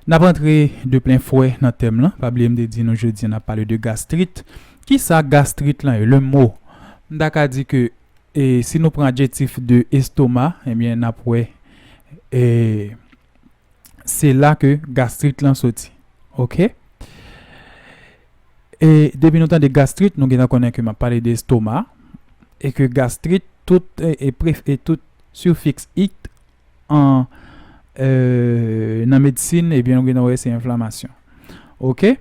Nap antre de plen fwè nan tèm lan, pa bliye m te di nou jodi an nap pale de gastrit, kisa gastrit lan ye? Le mot m ta ka di ke e si nou pran adjektif de estoma ebyen nap wè e se la ke gastrit lan soti ok e depi nou tande gastrit nou gentan konnen ke map pale de estoma e ke gastrit tout e pref e tout sifiks it an nan medsin ebyen nou gentan wè se enflamasyon ok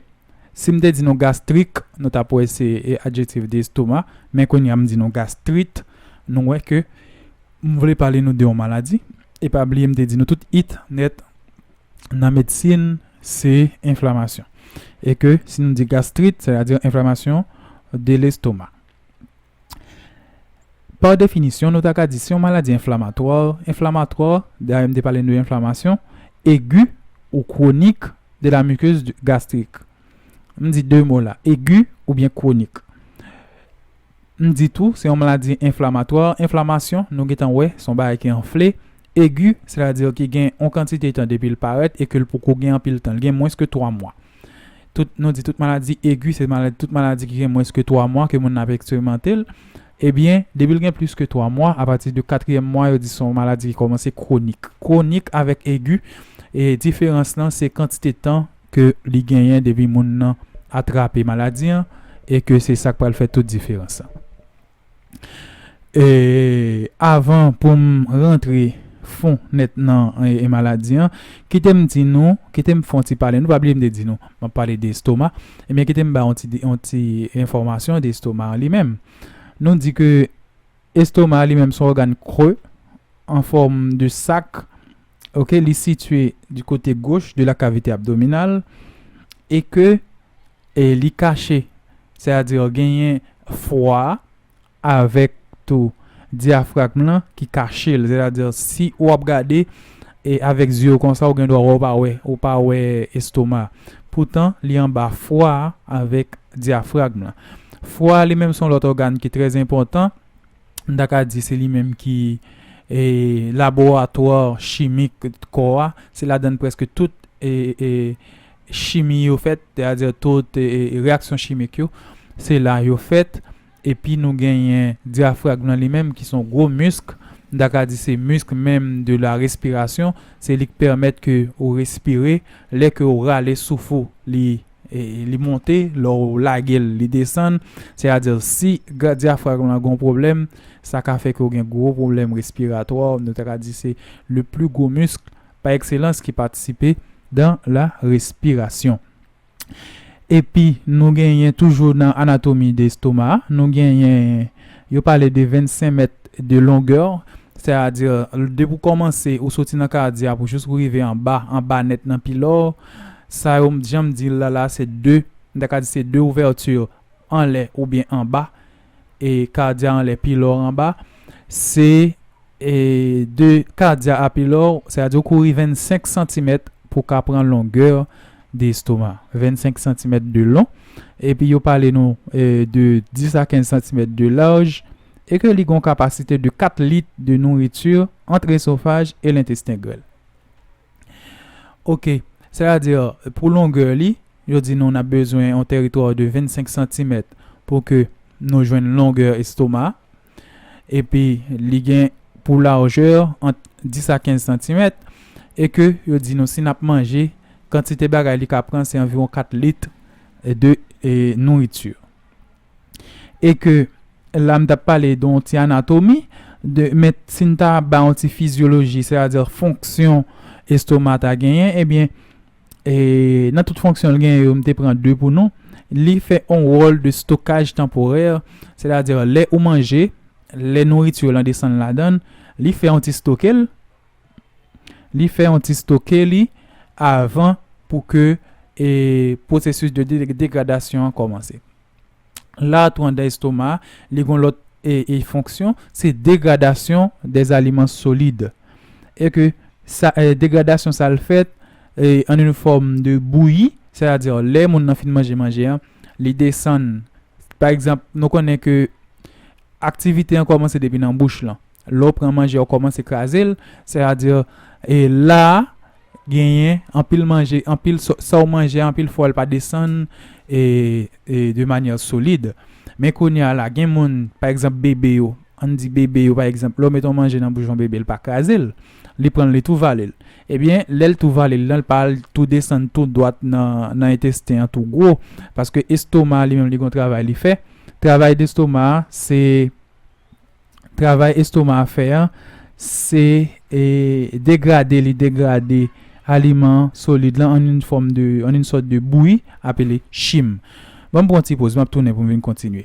sim te di nou gastrik nou tap wè se adjektif de estoma men kounya m di nou gastrit nou wè ke m vle pale nou de yon maladi e pa bliye m te di nou tout it nèt nan medsin se enflamasyon e ke si nou di gastrit sètadi enflamasyon de lestoma. Pa definisyon, nou ta ka di se yon maladi enflamatwa, inflammatoire, dayè m te pale n de enflamasyon, egi ou kwonik de la mikez gastrik. M di de mo la, egi oubyen kwonik. M di tou, se yon maladi enflamatwa, enflamasyon, nou gentan wè, se yon bagay ki anfle, egi, sètadi ki gen yon kantite tan depi l parèt e ke l poko gen anpil tan, l gen mwens ke 3 mwa. tout nou di tout maladi egi se maladi tout maladi ki gen mwens ke 3 mwa ke moun nan ap eksperimante l ebyen depi l gen plis ke 3 mwa apati de katriyèm mwa yo di se yon maladi ki kòmanse kwonik kwonik avèk egi e diferans lan se kantite tan ke li genyen depi moun nan atrape maladi an e ke se sa k pral fè tout diferans lan. Avan pou m rantre fon nèt nan maladi an, kite m di nou, kite m fè yon ti pale nou. Pa bliye m te di nou, m ap pale de estoma. Ebyen, kite m ba yon ti enfòmasyon de estoma an li menm. Nou di ke estoma an li menm se yon ògàn kre an fòm de sak. Ok, li sitye di kote goch de la kavite abdominal e ke. E li kache, sè a di genyen fwa a avèk tou dyafragm lan ki kache l, sè a di si ou ap gade e avèk zye w konsa ou gen dwa wè ou pa wè, ou pa wè estoma a. Poutan li anba fwa a avèk dyafragm lan. Fwa a li menm son lòt ògàn ki trè enpòtan, m ta ka di se li menm ki e laboratwa chimik kò a, se ladan l prèske tout e e chimi yo fèt, teyadè tout reyaksyon chimik yo, se la yo fèt. Epi nou genyen dyafragm lan li menm ki son gwo misk, m ta ka di se misk menm de la respirasyon, se li k pèmèt ke ou respire, lè ke ou rale souf ou li li monte, lè ou lage l li desann, sètadi si dyafragm lan gon pwoblèm sa ka fè ke ou gen gwo pwoblèm respiratwa, nou ta ka di se le pli gwo misk. pa ekselans ki patisipe dan la respirasyon. Epi nou genyen toujou nan anatomi de estoma a, nou genyen yo pale de 25 mèt de longè, sè a di depi w kòmanse ou soti nan kadya pou jous ou rive anba, anba nèt nan pilò, sa yo jan m di l la la se 2, m ta ka di se 2 ouvèti anlè oubyen anba e kadya anlè pi lò anba se e de kadya a pi lò se a di ou kouri 25 santimèt pou ka pran longè de estoma 25 santimèt de lon epi yo pale nou e de 10 a 15 santimèt de laj e ke li gon kapasite de 4 lit de nouriti ant esofaj e lentesten grèl. Ok, sè a di pou longè li, yo di nou nap bezwen yon teritwa de 25 santimèt pou ke nou jwenn longè estoma a. Epi li gen pou lajè ant 10 a 15 santimèt e ke yo di nou si nap manje, kantite bagay li ka pran se anviwon 4 lit de nouriti. e ke la m t ap pale de yon ti anatomi de men si n ta bay yon ti fizyoloji sè a di fonksyon estoma ta genyen ebyen e nan tout fonksyon l genyen yo m te pran de pou nou li fè yon wòl de stokaj tanporè sè ta di lè ou manje lè nouriti lan desann ladan li fè yon ti stoke l li fè yon ti stoke li avan pou ke e pwosesis de degradasyon an kòmanse. La tou andan estoma, li gon lòt e e fonksyon, se degradasyon des aliments solides. E ke sa e degradasyon sa l fèt e an une fòm de bouyi, sètadi lè moun nan fin manje manje an, li desann pa egzanp nou konnen ke aktivite an kòmanse depi nan bouch lan. Lè w pran manje a ou kòmanse kraze l, sètadi e la a genyen anpil manje, anpil sa w manje a anpil fwa l pa desann e de manyè solid. Men kounye a la gen moun pa egzanp bebe yo, an n di bebe yo pa egzanp lè w met on manje nan bouch on bebe l pa kraze l, li pran l li tou vale l. Ebyen lè l tou vale l lan l pa al tou desann tou dwat nan entesten an tou gwo paske estoma a li menm li gen on travay li fè, travay destoma a se. travay estoma a fè an se degrade li degrade aliman solid lan an yn fòm de an yn sòt de bouyi apele chim. Banm pran ti poz map tounen poum vin kontinye.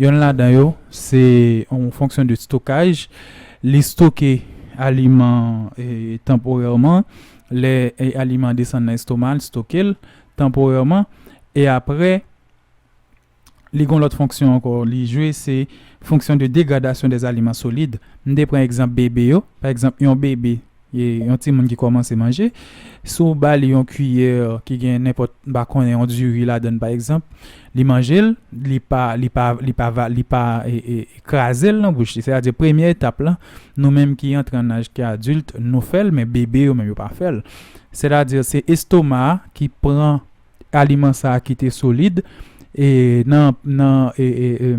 Yonn ladan yo se yon fonksyon de stokaj, li stoke aliman tanporèman, lè aliman an desann nan estoma li stoke l tanporèman e aprè li gen yon lòt fonksyon ankò li jwe se fonksyon de degradasyon dè aliman solid m te pran egzanp bebe yo pa egzanp yon bebe Yon timoun ki kòmanse manje, si w ba li yon kiyè ki gen nenpòt, m pa konnen, yon diri ladan pa egzanp, li manje l, li pa, li pa, li pa va, li pa kraze l nan bouch li. Sètadi premye etap lan, nou menm ki antre an aj ki adilt, nou fè l, men bebe yo menm yo pa fè l. Sètadi se estoma a ki pran aliman sa a ki te solid e nan, nan e, e, e.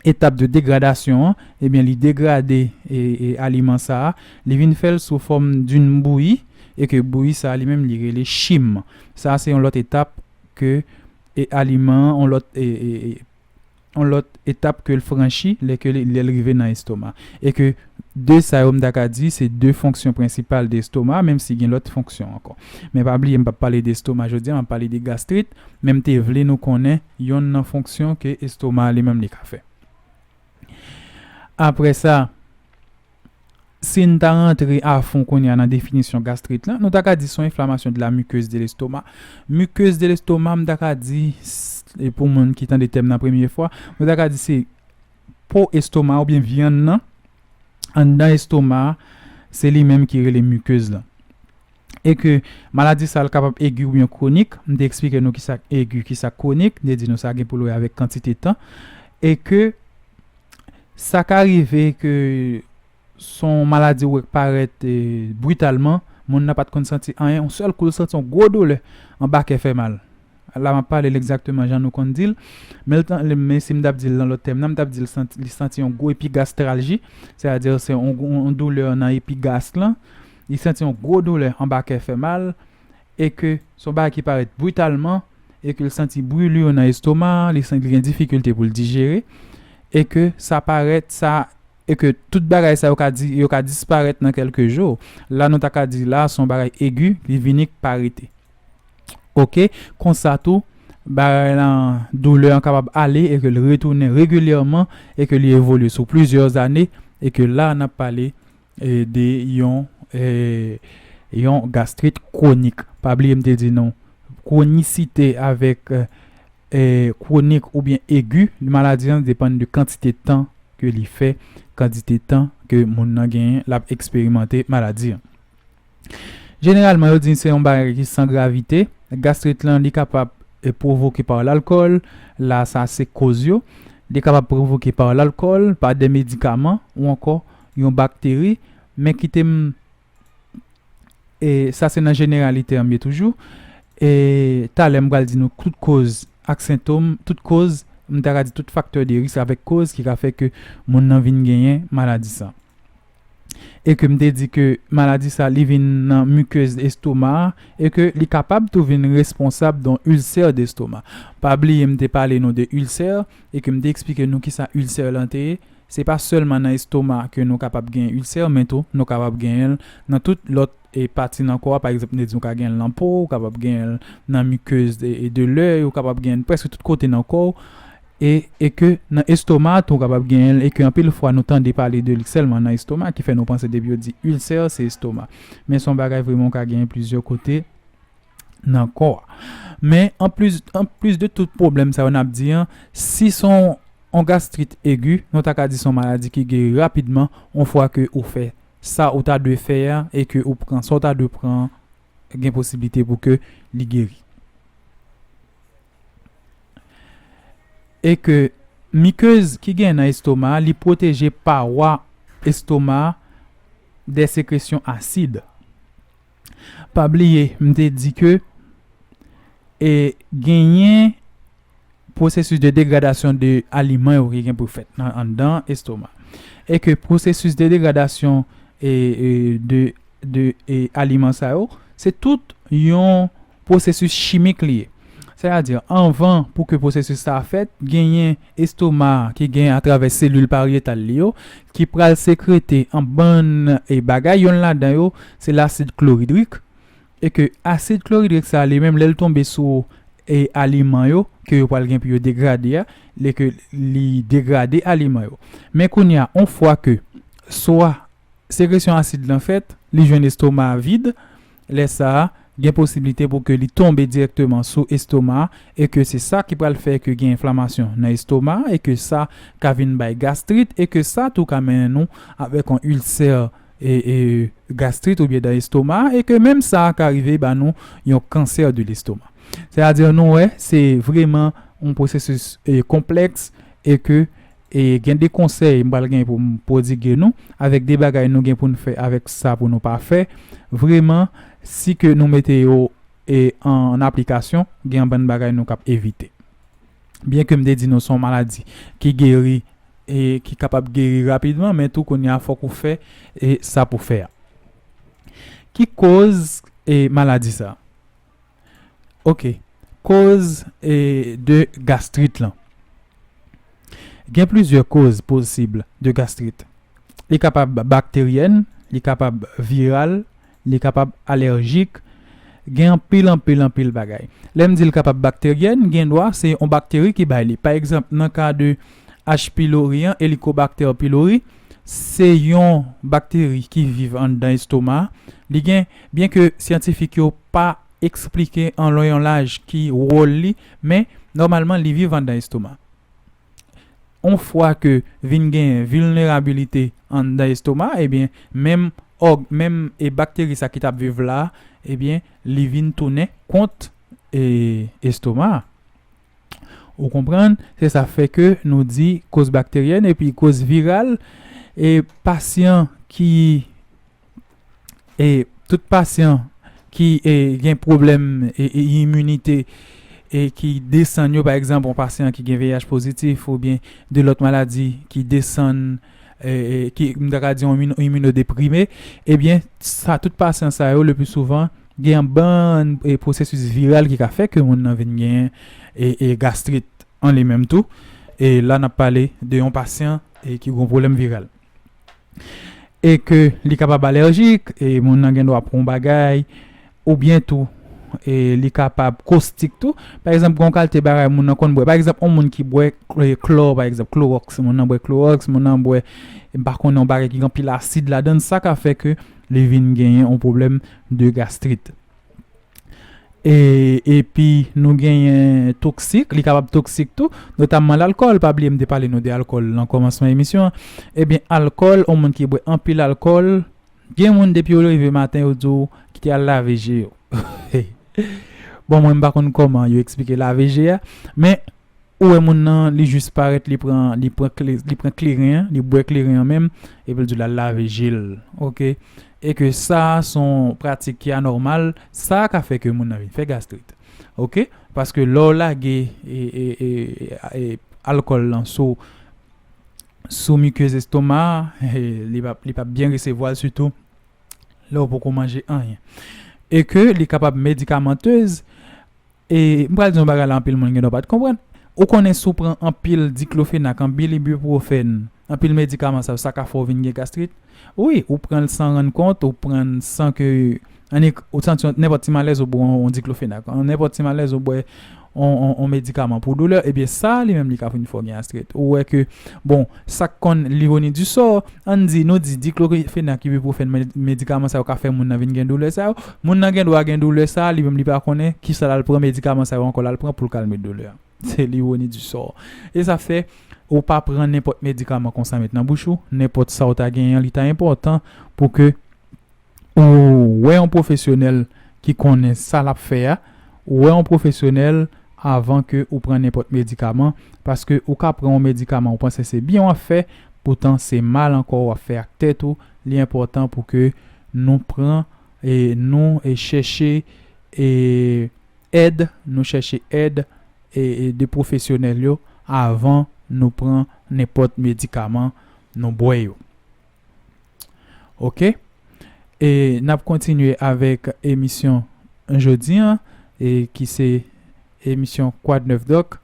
etap de degradasyon an, ebyen li degrade aliman sa a, li vin fè l sou fòm d'une bouillie e ke bouillie sa a li menm li rele chim. Sa a se yon lòt etap ke aliman an, yon lòt yon lòt etap ke l franchi lè ke lè l rive nan estoma. E ke de sa yo m ta ka di se de fonksyon prensipal de estoma menm si gen lòt fonksyon ankò. Men pa bliye m p ap pale de estoma jodi a, m ap pale de gastrit men m te vle nou konnen Yonn nan fonksyon ke estoma a li menm li ka fè. Aprè sa, si n ta rantre afon kounye a nan definisyon gastrit lan, nou ta ka di son enflamasyon de la muqueuse de l'estomac. Muqueuse de l'estomac m ta ka di, e pou moun ki tande tèm nan premye fwa, nou ta ka di se po estoma oubyen vyann nan, anndan estoma a, se li menm ki rele mukeuse lan. E ke maladi sa l kapab egi oubyen kwonik, m te eksplike nou kisa k egi, kisa k kwonik, m te di nou sa gen pou l wè avèk kantite tan, e ke sa ka rive ke s on maladi ou wè k parèt britalman, moun nan pa t konn santi anyen, on sèl kou l santi on gwo doulè anba kè fè mal. La m ap pale l egzakteman jan nou konn di l. Men l tan, men si m t ap di l nan lòt tèm nan, m t ap di l santi, li santi yon gwo epigastralji, sètadi se yon yon doulè nan epigast lan. Li santi yon gwo doulè anba kè fè mal e ke s on bagay ki parèt britalman e ke l santi brûlure nan estoma a, li santi li gen difikilte pou l dijere e ke sa parèt sa e ke tout bagay sa yo ka di yo ka disparèt nan kèlke jou. La nou ta ka di la s on bagay egi li vini k pa rete. Ok, konsa tou, bagay lan, doulè an kapab ale e ke l retounen regilyèman e ke li evolye sou plizyè ane e ke la a n ap pale de yon yon gastrit kwonik. Pa bliye m te di nou kwonisite avèk kwonik oubyen egi maladi an depann de kantite tan ke li fè, kantite tan ke moun nan genyen l ap eksperimante maladi an. Jeneralman yo di se yon bagay ki san gravite, gastrit lan li kapab pwovoke pa lalkòl, la sa se koz yo, li kapab pwovoke pa lalkòl, pa de medikaman ou ankò yon bakteri, men kite m e sa se nan jeneralite anm ye toujou e talè m pral di nou tout koz ak sentom, tout koz m ta ka di tout faktè de risk avèk koz ki ka fè ke moun nan vin genyen maladi sa. e ke m te di ke maladi sa li vin nan muqueuse estoma a e ke li kapab tou vin responsab don ulcère d'estomac. Pa bliye m te pale nou de ulcère e ke m te eksplike nou kisa ulcère lan te ye, se pa sèlman nan estoma ke nou kapab gen ulcère men tou nou kapab genyen l nan tout lòt pati nan kò a pa egzanp m te di ou ka genyen l nan po w, ou kapab genyen l nan muqueuse de l'oeil, ou kapab genyen l prèske tout kote nan kò w. E e ke nan estoma a tou kapab genyen l e ke anpil fwa nou tande pale de li sèlman nan estoma ki fè nou panse depi yo di ulcè se estoma men se yon bagay vreman ou ka genyen plizyè kote nan kò a men an plis an plis de tout pwoblèm sa yo nap di an si se yon yon gastrit egi nou ta ka di se yon maladi ki geri rapidman yon fwa ke ou fè sa ou ta dwe fè a e ke ou pran sa ou ta dwe pran an gen posiblite pou ke li geri. e ke mikez ki gen nan estoma a li pwoteje pawa estoma a de sekresyon asid. Pa bliye m te di ke e genyen pwosesis de degradasyon de aliman yo ki gen pou fèt nan anndan estoma e ke pwosesis de degradasyon e de de aliman sa yo, se tout yon pwosesis chimik li ye. Sètadi, anvan pou ke pwosesis sa a fèt, genyen estoma a ki gen atravè selil paryetal li yo ki pral sekrete yon bann bagay, yonn ladan yo se lasid kloridrik e ke asid kloridrik sa a li menm lè l tonbe sou aliman yo ke yo pral gen pou yo degrade a, li degrade aliman yo. Men kounye a, yon fwa ke swa Sekresyon asid lan fèt, li jwenn estoma a vid, lè sa a, gen posiblite pou ke li tonbe dirèkteman sou estoma a e ke se sa ki pral fè ke gen enflamasyon nan estoma a e ke sa ka vin bay gastrit e ke sa tou ka mennen nou avèk yon ilsè gastrit oubyen dan estoma a e ke menm sa a ka rive ba nou yon kansè de lestoma. Sètadi nou wè se vreman yon pwosesis konplèks e ke E gen 2 konsèy m pral gen pou m pwodigue nou, avèk 2 bagay nou gen pou n fè avèk sa pou nou pa fè, vreman, si ke nou mete yo e an aplikasyon, gen yon bann bagay nou k ap evite. Byen ke m te di nou se yon maladi ki geri e ki kapab geri rapidman, men tou kounye a fòk ou fè e sa pou fè a. Ki koz e maladi sa? Ok koz e de gastrit lan gen plizyè koz posib de gastrit li kapab bakteryèn li kapab viral li kapab alèjik gen anpil anpil anpil bagay lèm dil kapab bakteryèn gen dwa se yon bakteri ki bay li pa egzanp nan ka de H pylori an elikobakter pylori Se yon bakteri ki viv anndan estoma. Li gen, byenke syantifik yo pa esplike an lon yon laj ki wòl li, men nòmalman li viv anndan estoma. On fwa ke vin genyen vilnerabilite anndan estoma, ebyen menm òg, menm e bakteri sa ki t ap viv la, ebyen li vin tounen kont e estoma a. Ou konprann? Se sa fè ke nou di koz bakteryèn epi koz viral e pasyan ki e tout pasyan ki e gen pwoblèm e iminite e ki desann yo pa egzanp yon pasyan ki gen VIH pozitif oubyen de lòt maladi ki desann ki m ta ka di yon iminodeprime, ebyen sa tout pasyan sa yo le pi souvan gen yon bann pwosesis viral ki ka fè ke moun nan vin gen gastrit an li menm tou e la n ap pale de yon pasyan ki gen yon pwoblèm viral e ke li kapab alèjik e moun nan gen dwa pran yon bagay Oubyen tou, li kapab kostik tou. Pa egzanp, gen yon kalte bagay moun nan konn bwè. Pa egzanp, yon moun ki bwè klò, pa egzanp, klowòks. Moun nan bwè klowòks, moun nan bwè, m pa konnen, yon bagay ki gen anpil asid ladan l, sa ka fè ke li vin genyen yon pwoblèm de gastrit. E, epi nou genyen toksik, li kapab toksik tou, notamman lalkòl. Pa bliye m te pale nou de alkòl nan kòmansman emisyon an. Ebyen, alkòl, yon moun ki bwè anpil alkòl. Gen moun depi yo leve maten yo di w kite al lave je yo bon mwen m pa konn kòman yo eksplike lave je a men ou wè moun nan li jis parèt li pran li pran li pran kleren an li bwè kleren an menm epi l di w l al lave je l ok e ke sa s on pratik ki anòmal sa ka fè ke moun nan vin fè gastrit ok paske lè w lage alkòl lan sou sou mikez estoma a, li pa li pap byen resevwa l sitou lè ou poko manje anyen. E ke li kapab medikamantez e m pral di yon bagay la anpil moun gen dwa pat konprann, ou konnen si w pran anpil diklofenak, anpil ibuprofène, anpil medikaman sa yo sa ka fè w vin gen gastrit. Wi ou pranl san rann kont ou prann san ke annik ou santi yon nenpòt ti malèz ou bwè yon diklofenak yon nenpòt ti malèz ou bwè yon medikaman pou doulè ebyen sa li menm li ka vin fè w gen astrit ou wè ke bon sak konn l'ironie du sort ann di nou di diklofenak ibipwofèn medikaman sa yo ka fè moun nan vin gen doulè sa yo moun nan gendwa gen doulè sa li menm li pa konnen kisa lal pran medikaman sa yo ankò lal pran poul kalme doulè an. Se l'ironie du sort. E sa fè ou pa pran nenpòt medikaman konsa met nan bouch ou, nenpòt sa ou ta genyen an li ta enpòtan pou ke ou wè yon pwofesyonèl ki konnen sa l'ap fè a, ou wè yon pwofesyonèl avan ke ou pran nenpòt medikaman paske ou ka pran yon medikaman ou panse se byen w'ap fè poutan se mal ankò w'ap fè ak tèt ou, li enpòtan pou ke nou pran e nou chèche e. Èd, Nou chèche èd de pwofesyonèl yo avan nou pran nenpòt medikaman nou bwè yo. Ok. E n ap kontinye avèk emisyon jodi an e ki se emisyon Kwadnèfdòk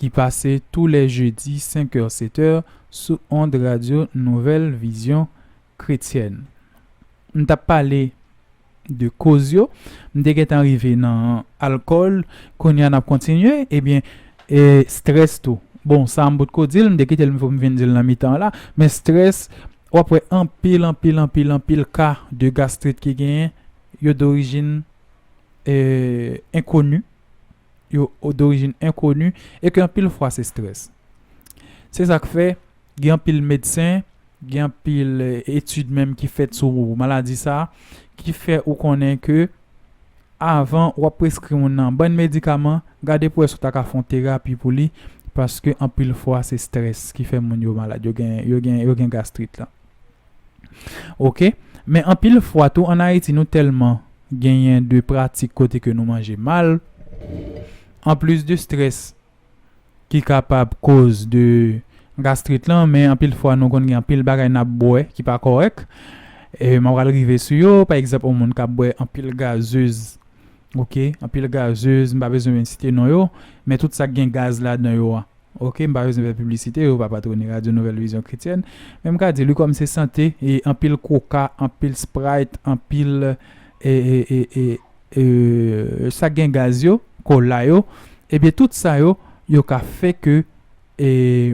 ki pase tou lè jedi 5 è 7 è sou ond radyo Nouvèl Vizyon Kretyèn. M t ap pale de koz yo. M te gentan rive nan alkòl, kounye a n ap kontinye. Ebyen, strès tou. Bon, sa m potko di l, m te kite l m fò m vin di l nan mitan an la. Men strès, w ap wè anpil, anpil, anpil, anpil ka de gastrit ki genyen, yo dorijin enkoni. yo dorijin enkoni e ke anpil fwa se strès. Se sa k fè gen anpil medsen, gen anpil etid menm ki fèt sou maladi sa a ki fè ou konnen ke avan w ap preskri moun nan bann medikaman, gade pou wè si w ta ka fè yon terapi pou li paske anpil fwa se strès ki fè moun yo malad, yo gen gastrit la. ok men anpil fwa tou an ayiti nou tèlman genyen de pratik kote ke nou manje mal anplis de strès ki kapab koz de gastrit lan men anpil fwa nou konn gen anpil bagay nap bwè ki pa kòrèk mwen pral rive sou yo pa egzanp yon moun kap bwè anpil gazez ok anpil gazez m pa bezwen site non yo men tout sa gen gaz ladan yo a. Ok m pa bezwen fè piblisite yo pa patrone radyo nouvèl vizyon kretyèn men m ka di li kòm se sante e anpil koka anpil sprite anpil ee sak gen gaz yo kola yo ebyen tout sa yo yo ka fè ke ee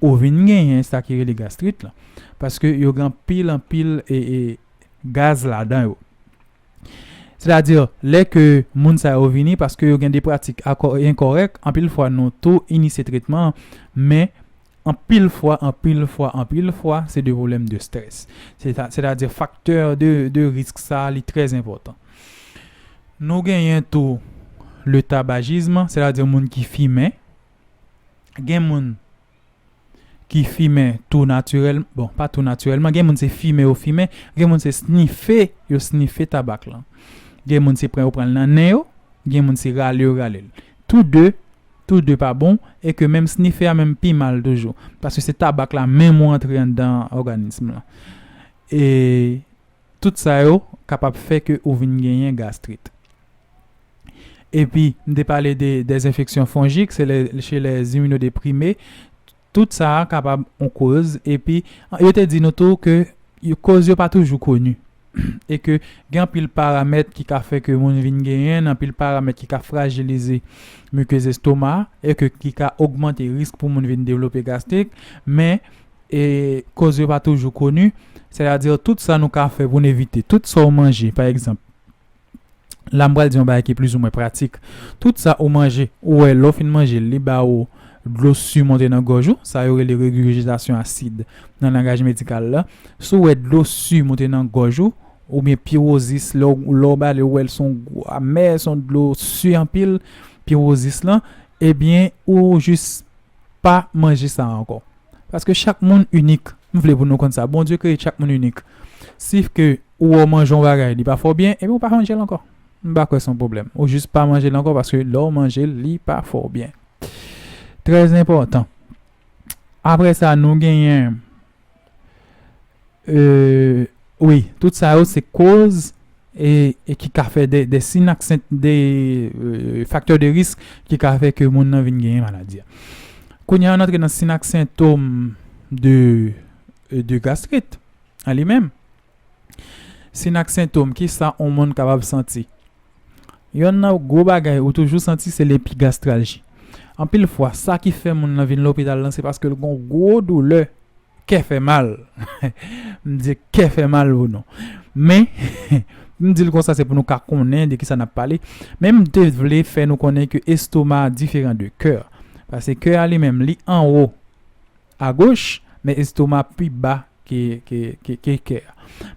ou vin genyen sa ki rele gastrit la paske yo gen anpil anpil ee gaz ladan yo Sètadi, lè ke moun sa yo vini paske yo gen de pratik enkòrèk, anpil fwa nou tou inisye tretman an, men anpil fwa, anpil fwa, anpil fwa se de pwoblèm de strès. Sètadi faktè de risk sa li trè enpòtan. Nou genyen tou le tabajism, sètadi moun ki fimen, gen moun. ki fimen tou natirèl, bon pa tou natirèlman, gen moun se fimen yo fimen, gen moun se snife yo snife tabak lan. Gen moun se pran yo pran l nan nen yo, gen moun se rale yo rale l. Tou de, tou de pa bon e ke menm snife a menm pi mal toujou paske se tabak la menm ou antre anndan òganism lan. E tout sa yo kapab fè ke ou vin genyen gastrit. epi m te pale de dezenfeksyon fonjik se lè che lè ziminodeprime tout sa a kapab on koz epi yo te di nou tou ke yo koz yo pa toujou koni e ke gen anpil paramèt ki ka fè ke moun vin genyen n anpil paramèt ki ka frajilize mikez estoma e ke ki ka ogmante risk pou moun vin devlope gastrik men e koz yo pa toujou koni sètadi tout sa nou ka fè pou n evite tout sa w manje pa egzanp. la m pral di yon bagay ki plizoumwen pratik. Tout sa ou manje, ou wè lè w fin manje l, li ba ou dlo su monte nan gòj ou, sa yo rele regurgitasyon asid nan langaj medikal la. Si w wè dlo su monte nan gòj ou, oubyen piwozis, lè w lè w bale ou wè l s on gou amè, s on dlo su anpil, piwozis lan, ebyen ou jis pa manje sa ankò paske chak moun inik m vle pou nou konn sa Bondye kreye chak moun inik si ke ou wè w manje yon bagay li pa fè w byen ebyen ou pa manje l ankò m pa kwè se yon pwoblèm ou jis pa manje l ankò paske lè w manje l li pa fè w byen trèzenpòtan apre sa nou genyen Wi, tout sa yo se koz e ki ka fè de sin ak sent de faktè de risk ki ka fè ke moun nan vin genyen maladi a. Kounye an antre nan sin ak sentom de gastrit an li menm. Sin ak sentom, kisa on moun kapab santi? Yonn nan gwo bagay ou toujou santi se lepigastralji. Anpil fwa, sa ki fè moun nan vin lopital lan se paske l gon gwo doulè, kè fè mal. M di kè fè mal pou nou. Men, m di l konsa se pou nou ka konnen de kisa n ap pale. Men m te vle fè nou konnen ke estoma diferan de kè. Pase kè a li menm, li anwo. Agoch, men estoma pi ba ke kè.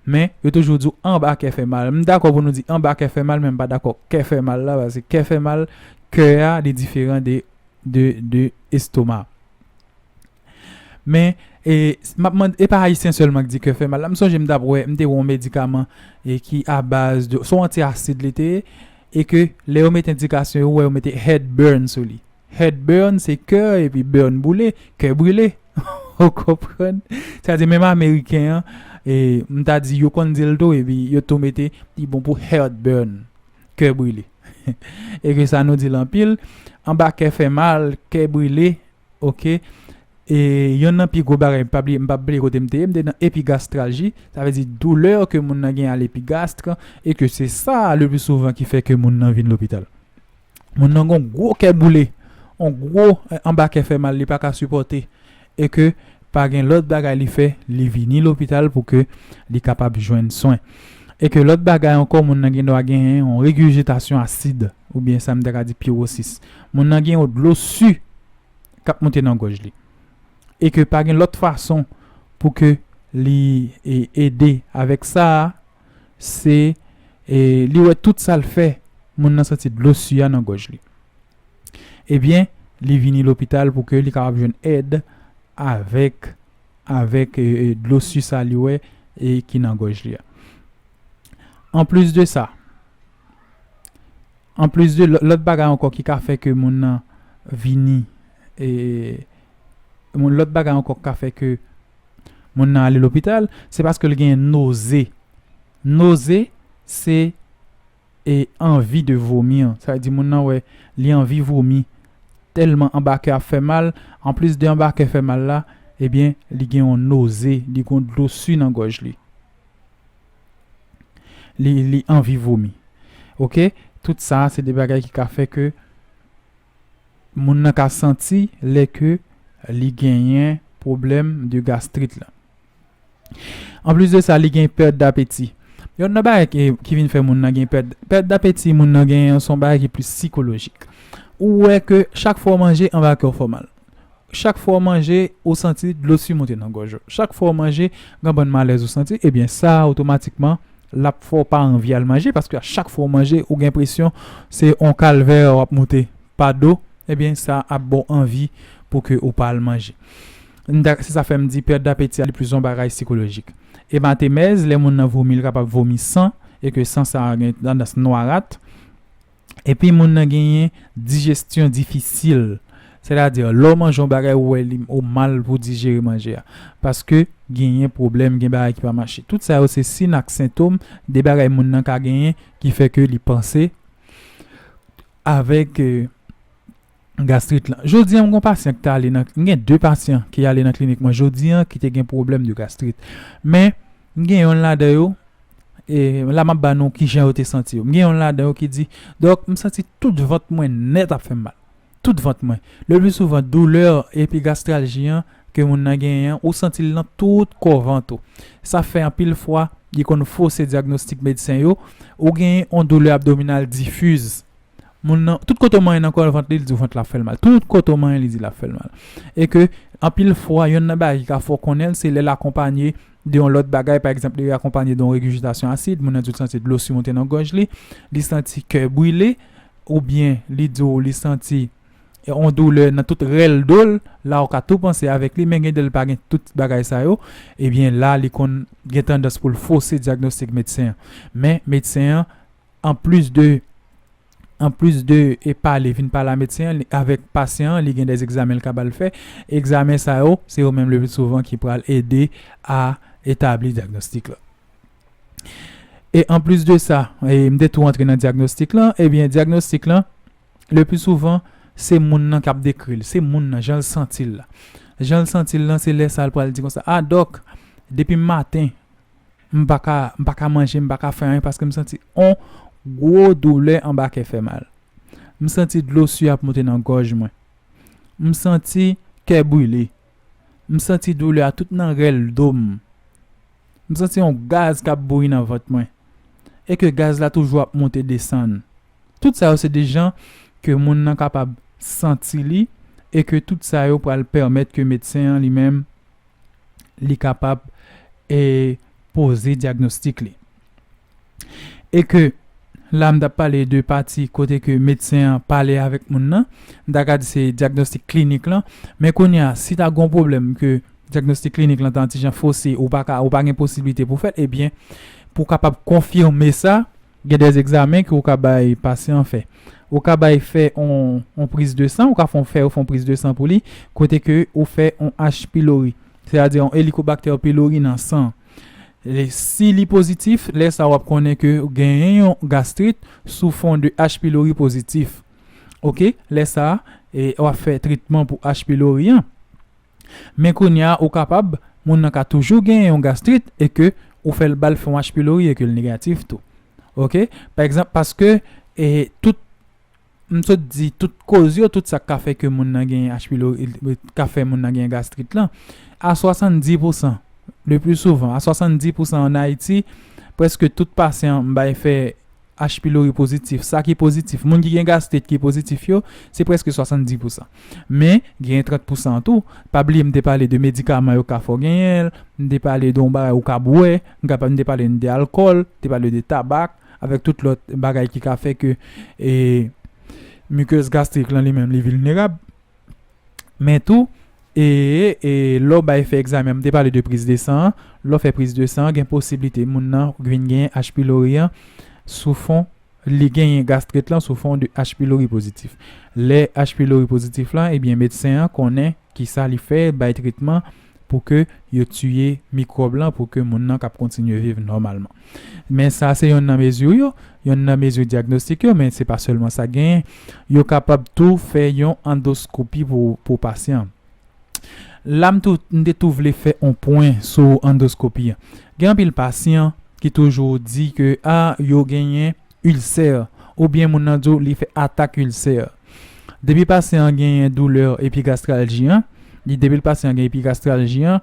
Men, yo toujou di w anba kè fè mal. M dakò pou nou di anba kè fè mal, men m pa dakò kè fè mal la, paske kè fè mal, kè a li diferan de estoma. Men, m ap mande, e pa ayisyen sèlman ki di kè fè mal la. M sonje m t ap wè, m te wè yon medikaman ki abaz de, se yon anti asid li te ye, e ke lè yo mete endikasyon, yo wè yo mete head burn sou li. Head burn se kè epi burn boule, kè brile. Ou konprann? Sa di menm ameriken an, e, m ta di yo konn di l tou epi yo tou mete li bon pou heart burn, kè brile. E ke sa nou di l anpil, anba kè fè mal, kè brile, oke. E yonn nan pi gwo bagay, m pa bliye, m pa bliye kote m te ye, m te nan epigastralji, sa vle di doulè ke moun nan gen a lepigastre e ke se sa a le pli souvan ki fè ke moun nan vin lopital. moun nan gon gwo kè boule, on gwo anba kè fè mal li pa ka sipòte e ke pa gen lòt bagay li fè li vini lopital pou ke li kapab jwenn swen. E ke lòt bagay ankò moun nan gen dwa gen on regurgitasyon asid ou byen sa m ta ka di pirosis. Moun nan gen on dlo su k ap moute nan gòj li e ke pa gen lòt fason pou ke li ede avèk sa a. se li wè tout sa l fè moun nan santi dlo su a nan gòj li ebyen li vini lopital pou ke li kapab jwenn èd avèk avèk dlo su sa li wè e ki nan gòj li a anplis de sa anplis de lòt bagay ankò ki ka fè ke moun nan vini e Yon lòt bagay ankò k ka fè ke moun nan ale lopital, se paske l gen noze. Noze se e anvi de vomir. Sa vle di moun nan wè li anvi vomi tèlman anba kè a fè mal. Anplis de anba kè fè mal la, ebyen li gen yon noze, li gon dlo su nan gòj li. Li li anvi vomi. Ok, tout sa se de bagay ki ka fè ke. moun nan ka santi lè ke li genyen pwoblèm de gastrit la. An plis de sa, li gen pèt dapeti. Yon nan bagay ki vin fè moun nan gen pèt, pèt dapeti moun nan genyen son bagay ki plis sikolojik. Ou wè ke chak fwa w manje anba kè w fè w mal. chak fwa w manje ou santi dlo su moute nan gòj ou chak fwa w manje gen yon bann malèz ou santi ebyen sa otomatikman lap fè w pa anvi al manje paske a chak fwa w manje ou gen enpresyon se yon kalvè wap moute pa do ebyen sa ap ba w anvi pou ke ou pa al manje m ta se sa fè m di pèt dapeti a li plis yon bagay sikolojik ematemèz lè moun nan vomi li kapab vomi san e ke san sa gen tandans nwarat. epi moun nan genyen dijestyon difisil sètadi lè w manje yon bagay ou wè li ou mal pou dijere manje a paske genyen pwoblèm gen bagay ki pa mache tout sa yo se sin ak sentom de bagay moun nan ka genyen ki fè ke li panse avèk gastrit lan. Jodi an m gon pasyan ki ta ale nan, m gen 2 pasyan ki ale nan klinik mwen jodi an ki te gen pwoblèm de gastrit. Men m gen yonn ladan yo, e la m ap ba nou kijan yo te santi yo. M gen yonn ladan yo ki di, dòk m santi tout vant mwen nèt ap fè m mal. Tout vant mwen. Le pli souvan doulè epi gastralji an ke moun nan genyen an ou santi l nan tout kò vant ou. Sa fè anpil fwa li konn fose dyagnostik medsen yo, ou gen yon doulè abdominal diffuse. Moun nan, tout kote w manyen nan kò vant li, li di w vant la ap fè l mal. Tout kote w manyen li di l ap fè l mal. E ke anpil fwa, yonn nan bagay ki ka fè w konnen l, se lè l akonpanye de yon lòt bagay. Pa egzanp, li akonpanye de yon regijitasyon asid, moun nan di w li santi dlo si monte nan gòj li, li santi kè brile, oubyen li di w li santi yon doulè nan tout rèl do l. La ou ka tou panse avèk li, men gen de l pa gen tout bagay sa yo. Ebyen la li konn gen tandans pou l fose dyagnostik medsen an. Men medsen an An plis de An plis de e pale vin pale a medsen an avèk pasyan an li gen de egzamen l kapab fè egzamen sa yo se yo menm lepli souvan ki pral ede a etabli dyagnostik la e an plis de sa e m te tou antre nan dyagnostik lan ebyen dyagnostik lan lepli souvan se moun nan k ap dekri l se moun nan jan l santi l la jan l santi l lan se lè sa l pral di konsa a dòk depi m maten m pa ka m pa ka manje, m pa ka fè anyen paske m santi on gwo doulè anba kè fè mal. M santi dlo su ap monte nan gòj mwen. M santi kè brile. M santi doulè a tout nan rèl do m. M santi on gaz k ap bouyi nan vant mwen e ke gaz la toujou ap monte desann. Tout sa yo se de jan ke moun nan kapab santi li e ke tout sa yo pral pèmèt ke medsen an li menm li kapab e poze dyagnostik li. E ke la m ta pale de pati kote ke medsen an pale avèk moun nan, m ta ka di se dyagnostik klinik lan. Men kounye a, si ta gen yon pwoblèm ke dyagnostik klinik lan ta yon ti jan fose, ou pa ka, ou pa gen posiblite pou fè l, ebyen pou w kapab konfime sa, Gen des egzamen ke ou ka bay pasyan an fè. Ou ka bay fè on priz de san, ou ka fon fè yo fon priz de san pou li, kote ke ou fè on H pilori, se a di on elikobaktè pilori nan san. Si li pozitif, lè sa wap konnen ke ou genyen yon gastrit sou fon de H pilori pozitif. Ok, lè sa wap fè tretman pou H pilori an. Men kounya ou kapab moun nan ka toujou genyen yon gastrit e ke ou fèl bal fè yon H pilori e ke l negatif tou ok pa egzanp paske e tout m sot di tout koz yo tout sa k ka fè ke moun nan genyen H pilori ka fè moun nan genyen gastrit lan a 70 pou san le pli souvan a 70 pou san an ayiti prèske tout pasyan m bay fè H pilori pozitif, sa ki pozitif, moun ki gen gastrit ki pozitif yo, se prèske 70 pousan. Men, genyen 30 pousan an tou. Pa bliye m te pale de medikaman yo ka fè w genyen l, m te pale de yon bagay ou ka bwè, m kapab m te pale n de alkòl, m te pale de tabak, avèk tout lòt bagay ki ka fè ke e mikòz gastrik lan li menm li vilnerab. Men tou, e, e, lè w bay fè egzamen an, m te pale de priz de san an, lè w fè priz de san an gen posiblite moun nan vin gen H pylori an sou fon, li genyen gastrit lan sou fon de H pylori pozitif. Lè H pylori pozitif lan, ebyen medsen an konnen kisa li fè, bay tretman. pou ke yo tiye mikwòb lan pou ke moun nan kab kontinye viv nòmalman. Men sa se yonn nan mezi yo, yonn nan mezi dyagnostik yo men se pa sèlman sa genyen. Yo kapab tou fè yon andoskopi pou pou pasyan an. La m tou m te tou vle fè on pwen sou andoskopi an. Gen anpil pasyan ki toujou di ke a yo genyen ilsè, oubyen moun nan di w li fè atak ilsè. Depi pasyan an genyen doulè epigastralji an, li depi l pasyan an gen epigastralji an,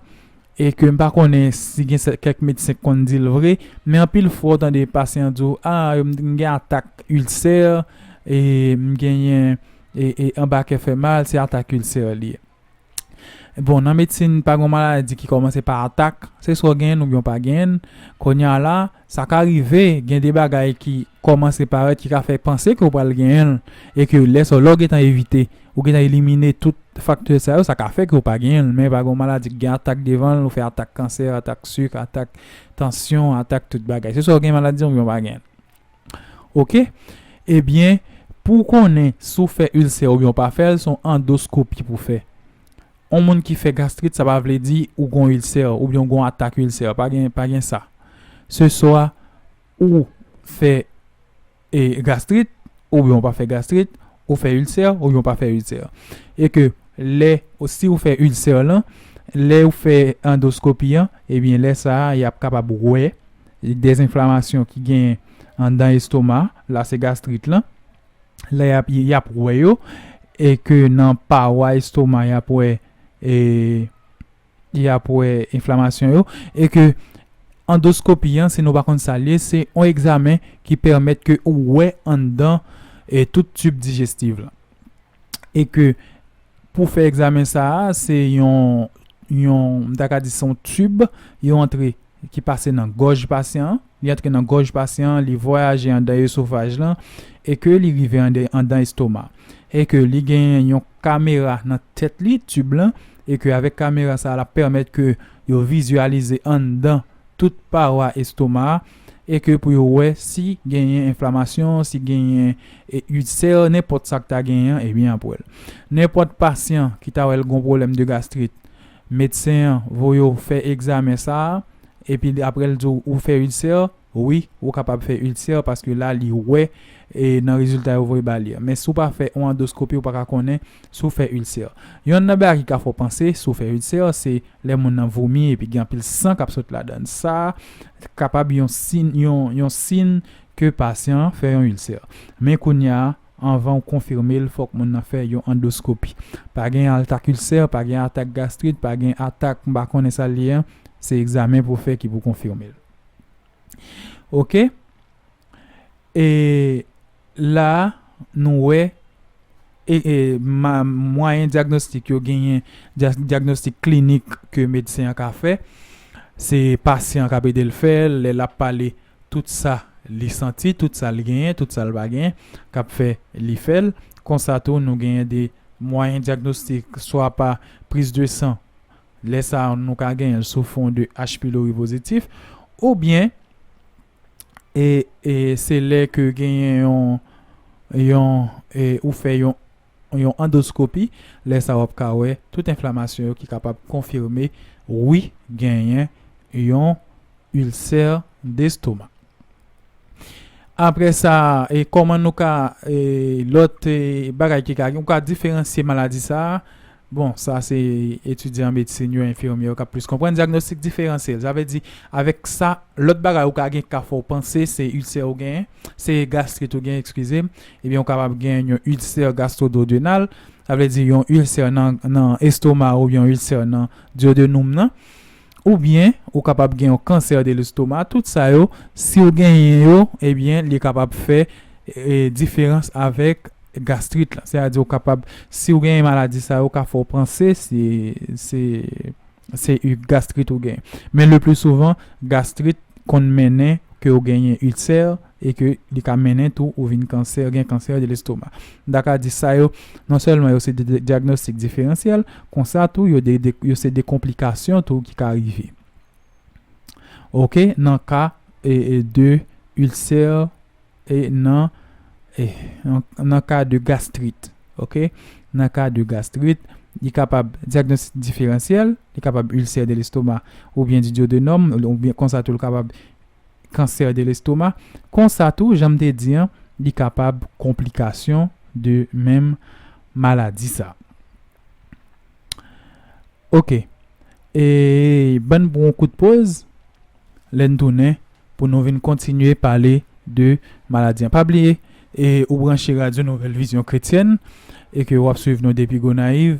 e ke m pa konnen si gen kèk medsen k konn di l vre, men anpil fwa w tande pasyan an di w, a m gen atak ilsè, e m genyen, e anba kè fè mal, se atak ilsè li ye. Bon nan medsin pa gon maladi ki kòmanse pa atak, se swa w genyen l oubyen w pa genyen l. Kounye a la, sa ka rive gen de bagay ki kòmanse parèt ki ka fè panse ke w pral genyen l e ke lè sa w, lè w gentan evite, ou gentan elimine tout faktè sa yo, sa ka fè ke w pa genyen l. Men pa gon maladi ki gen atak devan l, ou fè atak kansè, atak sik, atak tansyon, atak tout bagay. Se swa w genyen maladi an oubyen w pa genyen l. Ok ebyen pouw konnen si w fè ilsè oubyen w pa fèl son andoskopi pou fè on moun ki fè gastrit sa pa vle di ou gon ilsè oubyen w gon atak ilsè pa gen pa gen sa se swa ou fè e gastrit oubyen w pa fè gastrit ou fè ilsè oubyen w pa fè ilsè e ke lè si w fè ilsè lan lè ou fè andoskopi an ebyen lè sa yap kapab wè Des enflamasyon ki genyen andan estoma, la se gastrit lan. Lè y ap y ap wè yo e ke nan pawa estoma y ap wè e y ap wè enflamasyon yo e ke andoskopi an si nou pa konn sa l ye se yon egzamen ki pèmèt ke ou wè andan tout tib dijestiv lan. e ke pou fè egzamen sa a se yon yon m ta ka di se yon tib yo antre ki pase nan gòj pasyan an, li antre nan gòj pasyan an, li vwayaje anndan esofaj lan e ke li rive anndan estoma e ke li genyen yon kamera nan tèt li, tib lan, e ke avèk kamera sa a l ap pèmèt ke yo vizyalize anndan tout pawa estoma a. e ke pou yo wè si genyen enflamasyon, si genyen ilsè, nenpòt sa k ta genyen an, ebyen y ap wè l. Nenpòt pasyan ki ta wè l gon pwoblèm de gastrit, medsen an voye w fè egzamen sa a, epi aprè l di w ou fè ilsè, wi ou kapab fè ilsè paske la li wè nan rezilta yo voye ba li a. Men si w pa fè yon andoskopi ou pa ka konnen si w fè ilsè. Yonn nan bagay ki ka fè w panse si w fè ilsè se lè moun nan vomi epi gen anpil san k ap sot ladan l. Sa kapab yon yon sin ke pasyan an fè yon ilsè. Men kounya anvan w konfime l fòk moun nan fè yon andoskopi. Pa gen altak ilsè, pa gen atak gastrit, pa gen atak m pa konnen sa l ye an. Se egzamen pou w fè ki pou konfime l. Ok. E. La a, nou wè e mwayen dyagnostik yo genyen dyagnostik klinik ke medsen an ka fè. Se pasyan an k ap ede l fè l, lè l ap pale tout sa li santi, tout sa l genyen, tout sa l pa genyen k ap fè li fè l. Konsa tou nou genyen de mwayen dyagnostik swa pa priz de san, lè sa a nou ka genyen l sou fon de H. pylori pozitif oubyen. e e se lè ke genyen yon yon e ou fè yon yon andoskopi lè sa wap ka wè tout enflamasyon yo ki kapab konfime wi genyen yon ilsè destomak apre sa e kòman nou ka e lòt e bagay ki ka gen ou ka diferansye maladi sa Bon, sa se etidyan medsin yo, enfimyè yo k ap plis konprann. Dyagnostik diferansyèl, sa vle di avèk sa lòt bagay ou ka gen ka fè w panse se ilsè ou genyen, se gastrit ou genyen, ekskize m, ebyen ou kapab genyen yon ilsè gastwododenal, sa vle di yon ilsè nan estoma ou, yon ilsè nan dyodenum nan. oubyen ou kapab gen yon kansè de lestoma tout sa yo siw genyen yo ebyen li kapab fè diferans avèk gastrit la se a di ou kapab siw genyen maladi sa yo ka fèw panse se se yon gastrit ou genyen men le pli souvan gastrit konn mennen ke ou genyen itse. e ke li ka mennen tou ou vin kansè, gen kansè de l'estomac. M ta ka di sa yo, non sèlman yo se de dyagnostik diferansyèl, konsa tou yo de, yo se de konplikasyon tou ki ka rive. Ok, nan ka e de ilsè e nan e nan ka de gastrit. Ok, nan ka de gastrit, li kapab dyagnostik diferansyèl, li kapab ilsè de l'estomac oubyen di dyodonòm, oubyen konsa tou li kapab. kansè de lestoma, konsa tou janm te di an li kapab konplikasyon de menm maladi sa. Ok e bann pou yon kout poz lèn tounen pou nou vin kontinye pale de maladi an pa bliye e ou branche radyo nouvèl vizyon kretyèn e ke wap swiv nou depi Gonayiv.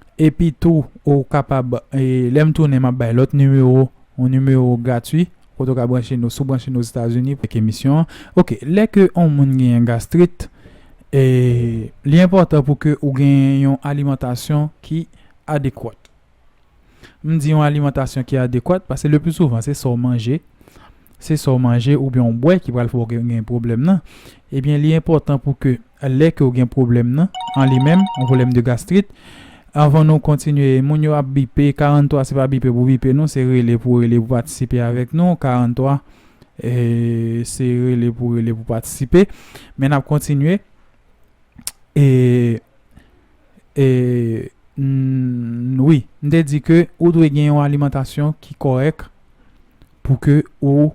Epi tou ou kapab lè m tounen m ap bay lòt nimewo, yon nimewo gratwi kote ou ka branche nou. Si w branche nou Ozetazini pou emisyon an, ok. Lè ke yon moun genyen gastrit, li enpòtan pou ke ou genyen yon alimantasyon ki adekwat. M di yon alimantasyon ki adekwat paske le pli souvan se sa w manje. se sa w manje oubyen w bwè ki pral fè w gen pwoblèm nan, ebyen li enpòtan pou ke lè ke w gen pwoblèm nan an li menm, yon pwoblèm de gastrit, anvan nou kontinye, moun yo ap bipe, 43 se pa bipe pou bipe non, se rele pou rele pou patisipe avèk nou, 43 se rele pou rele pou patisipe, men n ap kontinye. N. Wi, m te di ke ou dwe gen yon alimantasyon ki kòrèk pou ke ou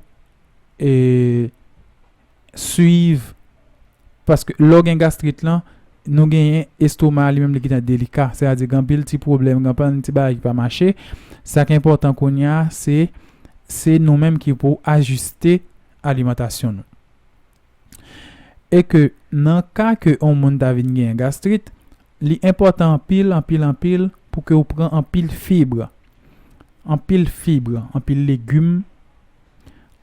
swiv paske lè w gen gastrit lan nou genyen estoma a li menm li gentan delika se a di gen anpil ti pwoblèm gen anpil ti bagay ki pa mache sa ki enpòtan kounye a se se nou menm ki pou ajiste alimantasyon nou. e ke nan ka ke on moun ta vin genyen gastrit li enpòtan anpil anpil anpil pou ke ou pran anpil fibr anpil fibr anpil legum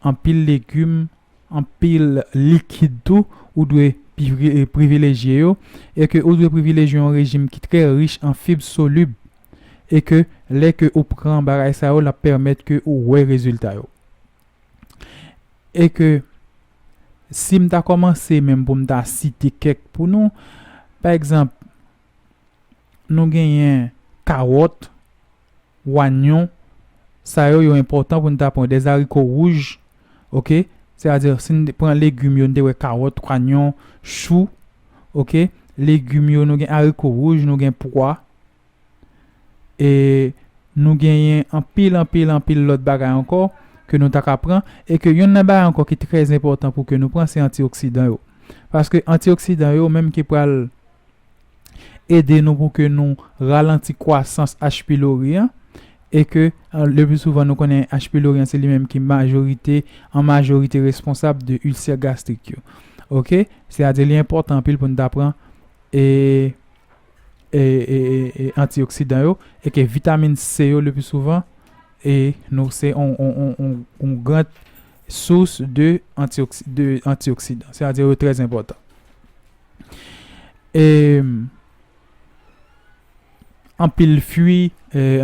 anpil legum anpil likid tou ou dwe privilejye yo e ke ou dwe privilejye on rejim ki trè rich an fibr solib e ke lè ke ou pran bagay sa yo lap pèmèt ke ou wè rezilta yo. e ke si m ta kòmanse menm pou m ta site kèk pou nou, pa egzanp, nou genyen kawòt, wanyon, sa yo yo enpòtan pou n ta pran, dezariko wouj, oke, sètadi si n pran legim yo, n te wè kawòt, wanyon, chou, oke, legim yo nou gen ariko wouj, nou gen pwa. E nou genyen anpil, anpil, anpil lòt bagay ankò ke nou ta ka pran. E ke yonn nan bagay ankò ki trè enpòtan pou ke nou pran se antioksidan yo. Paske antioksidan yo menm ki pral ede nou pou ke nou ralanti kwasans H. pylori an. E ke le pli souvan nou konnen H. pylori an se li menm ki majorite, an majorite responsab de ilsè gastrik yo. Ok? Se a di li enpòtan anpil pou nou ta pran e. antioksidan yo e ke vitamin C yo le pi souvan e nou se yon gran sous de antioksidan. Se a di yo trè zimpotan. E anpil fwi,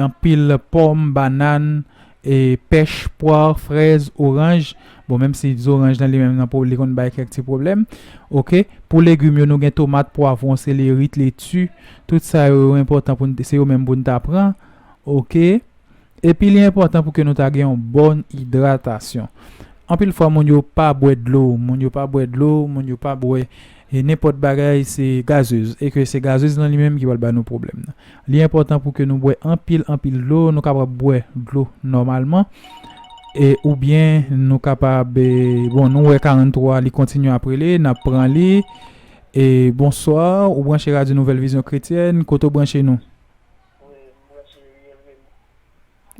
anpil pom, banan, E pèch, pwar, frèz, oranj, bon menm si zoranj lan li menm nan li konn bay kèk ti pwoblèm ok. Pou legim yo nou gen tomat, pwavwon, selerit, leti, tout sa yo yo enpòtan pou n se yo menm pou n ta pran ok. Epi li enpòtan pou ke nou ta gen yon bòn idratasyon. Anpil fwa moun yo pa bwè dlo, moun yo pa bwè dlo, moun yo pa bwè e nenpòt bagay se gazez e ke se gazez lan li menm ki pral ba nou pwoblèm nan. Li enpòtan pou ke nou bwè anpil anpil dlo, nou kapab bwè dlo nòmalman e oubyen nou kapab bon nou wè 43 li kontinye ap rele nap pran li e Bonsoir ou branche radyo nouvèl vizyon kretyèn kote ou branche nou?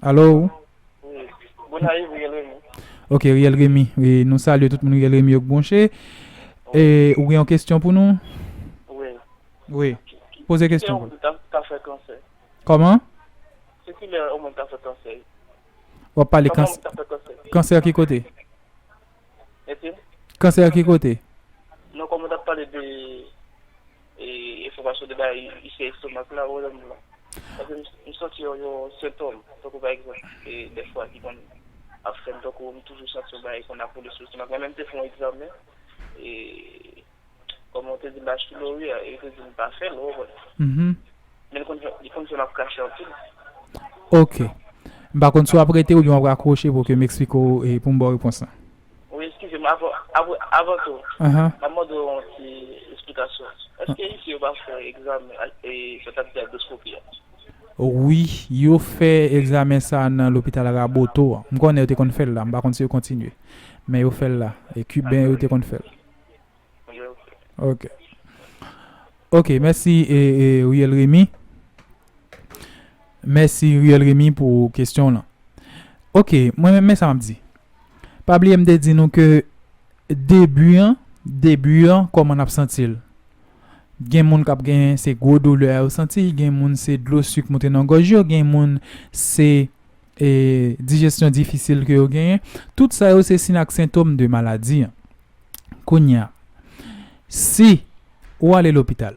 Alo. Wi. Gonayiv Riel Remy. Ok Riel Remy. Wi nou salye tout moun Riel Remy yo k bwonche. E ou gen yon kesyon pou nou? Wi. Wi. Poze kesyon. Kilè yon moun ka fè kansè? Kòman? Se kilè yon moun ka fè kansè? Wap pale kansè ki kote? Mesi. Kansè ki kote? Non koman tap pale de e enfòmasyon de bay isye estomak la wè lèm la. Paske m santi yon yon sentòm tankou pa egzanp e dèfwa ki konn ap fèm tankou m toujou santi yon bagay konn ap woule sou estomak mwen menm te fon egzamen e Kòm ou te di bachilory a e ou te di m pa fèl ou wè. Men li konn fè li konn fè map krache anpil. Ok. M pa konn si wap rete oubyen wap rakwoche pou ke m eksplike w e pou m ba w repons lan. Wi eskize m avan avan avan tou map mande w yon ti esplikasyon. Eske isi yo pa fè egzamen e sa tap di andoskopi a? Wi yo fè egzamen sa nan lopital Raboto an. M konnen yo te konn fèl la. M pa konn si yo kontinye. Men yo fèl la. E kiben yo te konn fèl. Ok. Ok, mèsi e Riel Remy. Mèsi Riel Remy pou kesyon lan. Ok, mwen men sa map di. Pa bliye m te di nou ke debu an, debu an koman nap santi l. Gen moun kap gen se gwo doulè a yo santi, gen moun se dlo suk moute nan gòj yo, gen moun se dijesyon difisil ke yo genyen, tout sa yo se sin ak sentom de maladi an. Kounye a, si ou ale lopital,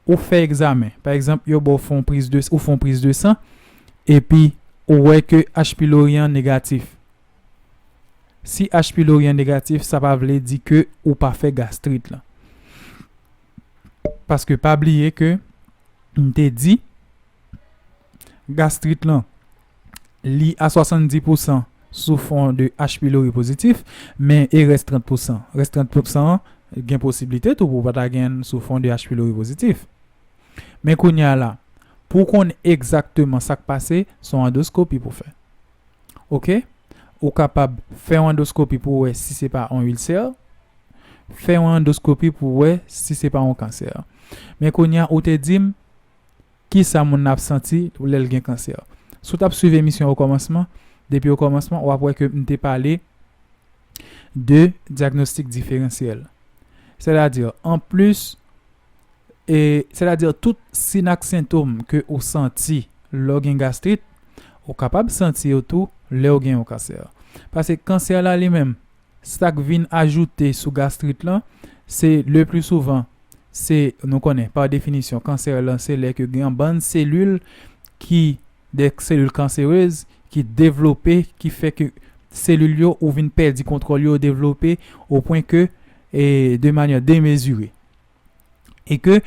ou fè egzamen, pa egzanp yo ba w fè yon priz de, ou fè yon priz de san, epi ou wè ke H pilori an negatif. Si H pilori an negatif, sa pa vle di ke ou pa fè gastrit lan. Paske pa bliye ke m te di, gastrit lan li a 70 pou san sou fon de H. pylori pozitif men e rès 30 pou san rès 30 pou san an gen posiblite tou pou w pa ta gen l sou fon de H. pylori pozitif men kounye a la pou w konn egzakteman sa k pase se yon andoskopi pou w fè ok ou kapab fè yon andoskopi pou w wè si se pa yon ilsè fè yon andoskopi pou w wè si se pa yon kansè men kounye a ou te di m Kisa moun nan ap santi lè l gen kansè? Si w t ap swiv emisyon an okòmansman, depi okòmansman, w ap wè ke m te pale de dyagnostik diferansyèl. Sètadi, anplis, sètadi tout sin ak sentom ke ou santi lè w gen gastrit, ou kapab santi yo tou lè w gen yon kansè. Pase kansè la li menm, Sa k vin ajoute sou gastrit lan, se le pli souvan, se nou konnen pa definisyon kansè lan se lè ke gen yon bann selil ki de selil kanserez ki devlope ki fè ke selil yo ou vin pèdi kontwòl yo devlope o pwen ke e de manyè demezire. e ke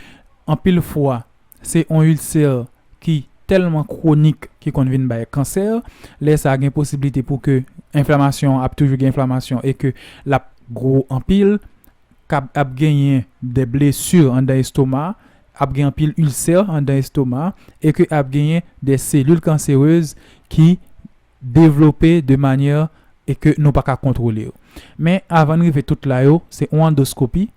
anpil fwa se yon ilsè ki tèlman kwonik ki konn vin bay kansè, lè sa gen posiblite pou ke enflamasyon ap toujou gen enflamasyon e ke lap gwo anpil kab ap genyen de blesi andan estoma ap gen anpil ilsè andan estoma e ke ap genyen de selil kanserez ki devlope de manyè e ke nou pa ka kontwole yo men avan n rive tout la yo se yon andoskopi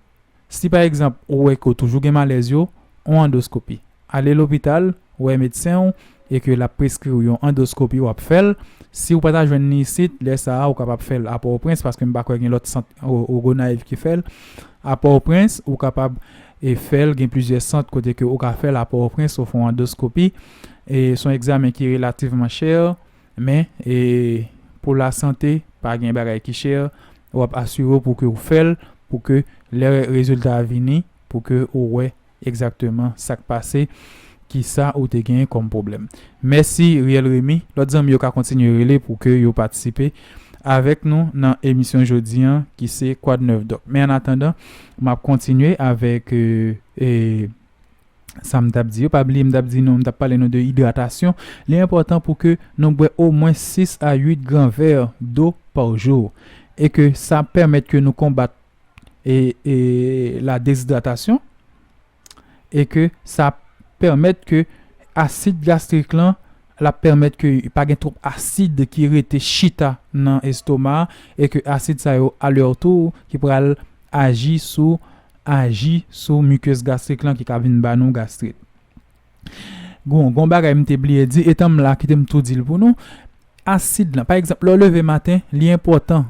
Si pa egzanp ou wè ke w toujou gen malèz yo, on andoskopi. Ale lopital, wè medsen w e ke l ap preskri w yon andoskopi w ap fè l. Si w pa ta jwenn li isit, lè sa a ou kapab fè l a Pòtoprens paske m pa kwè gen lòt sant o Gonayiv ki fè l a Pòtoprens. Ou kapab fè l, gen plizyè sant kote ke ou ka fè l a Pòtoprens, ou fè w andoskopi. Se yon egzamen ki relativman chè. Men, pou lasante, pa gen bagay ki chè, w ap asire w pou ke w fè l, pou ke lè rezilta a vini, pou ke ou wè egzakteman sa k pase, ki sa ou te genyen kòm pwoblèm. Mèsi Riel Remy. Lòt zanmi yo ka kontinye rele pou ke yo patisipe avèk nou nan emisyon jodi an ki se Kwadnèfdòk. Men annatandan, m ap kontinye avèk sa m tap di yo pa bliye m tap di nou m tap pale nou de idratasyon li enpòtan pou ke nou bwè omwen 6 a 8 gran vè do pa jou e ke sa pèmèt ke nou konbat e la dezidratasyon e ke sa pèmèt ke asid gastrik lan L ap pèmèt ke pa gen twòp asid ki rete chita nan estoma a e ke asid sa yo alètou ki pral aji sou aji sou mukeuse gastrique lan ki ka vin ba nou gastrit. Gon gon bagay m te bliye di etan m la kite m tou di l pou nou asid lan pa egzanp lè w leve maten li enpòtan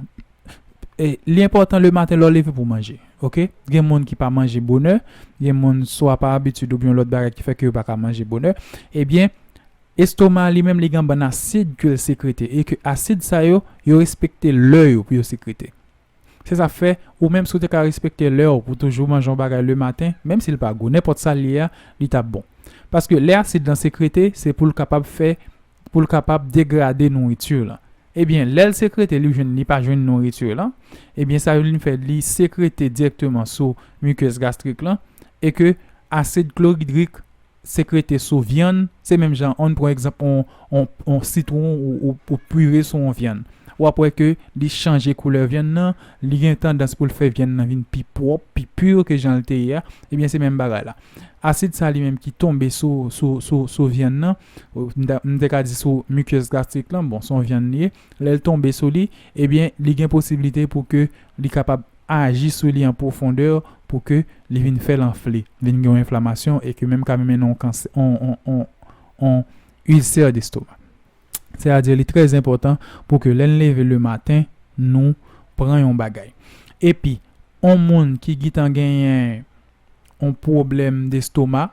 li enpòtan le maten lè w leve pou w manje ok gen moun ki pa manje bonè gen moun swa pa abitid oubyen yon lòt bagay ki fè ke yo pa ka manje bonè ebyen estoma li menm li gen yon bann asid ke l sekrete e ke asid sa yo yo respekte lè yo pou yo sekrete se sa k fè ou menm si w te ka respekte lè w pou w toujou manje yon bagay le maten menm si l pa gou nenpòt sa l ye a li t ap bon paske lè asid lan sekrete se pou l kapab fè pou l kapab degrade nouriture lan ebyen lèl sekrete li jwenn li pa jwenn nouriture lan ebyen sa vin fè li sekrete direkteman sou mukeuse gastrique lan e ke acide chlorhydric sekrete sou vyann se menm jan an pran egzanp on on on sitron ou ou pure sou on vyann wap wè ke li chanje koulè vyann nan li gen tandans pou l fè vyann nan vin pi pwòp pi pur ke janl te ye a ebyen se menm bagay la acide sa li menm ki tonbe sou sou sou sou vyann nan m te ka di sou mikyèz gastrik lan, bon son vyann li ye, lèl tonbe sou li, ebyen li gen posiblite pou ke li kapab aji sou li an pwofondè pou ke li vin fèl anfle, vin gen yon enflamasyon e ke menm ka mennen yon kansè yon ilsè destoma. Sè a di li trè enpòtan pou ke lèn leve le maten nou pran yon bagay. Epi yon moun ki gitan genyen. yon pwoblèm destoma,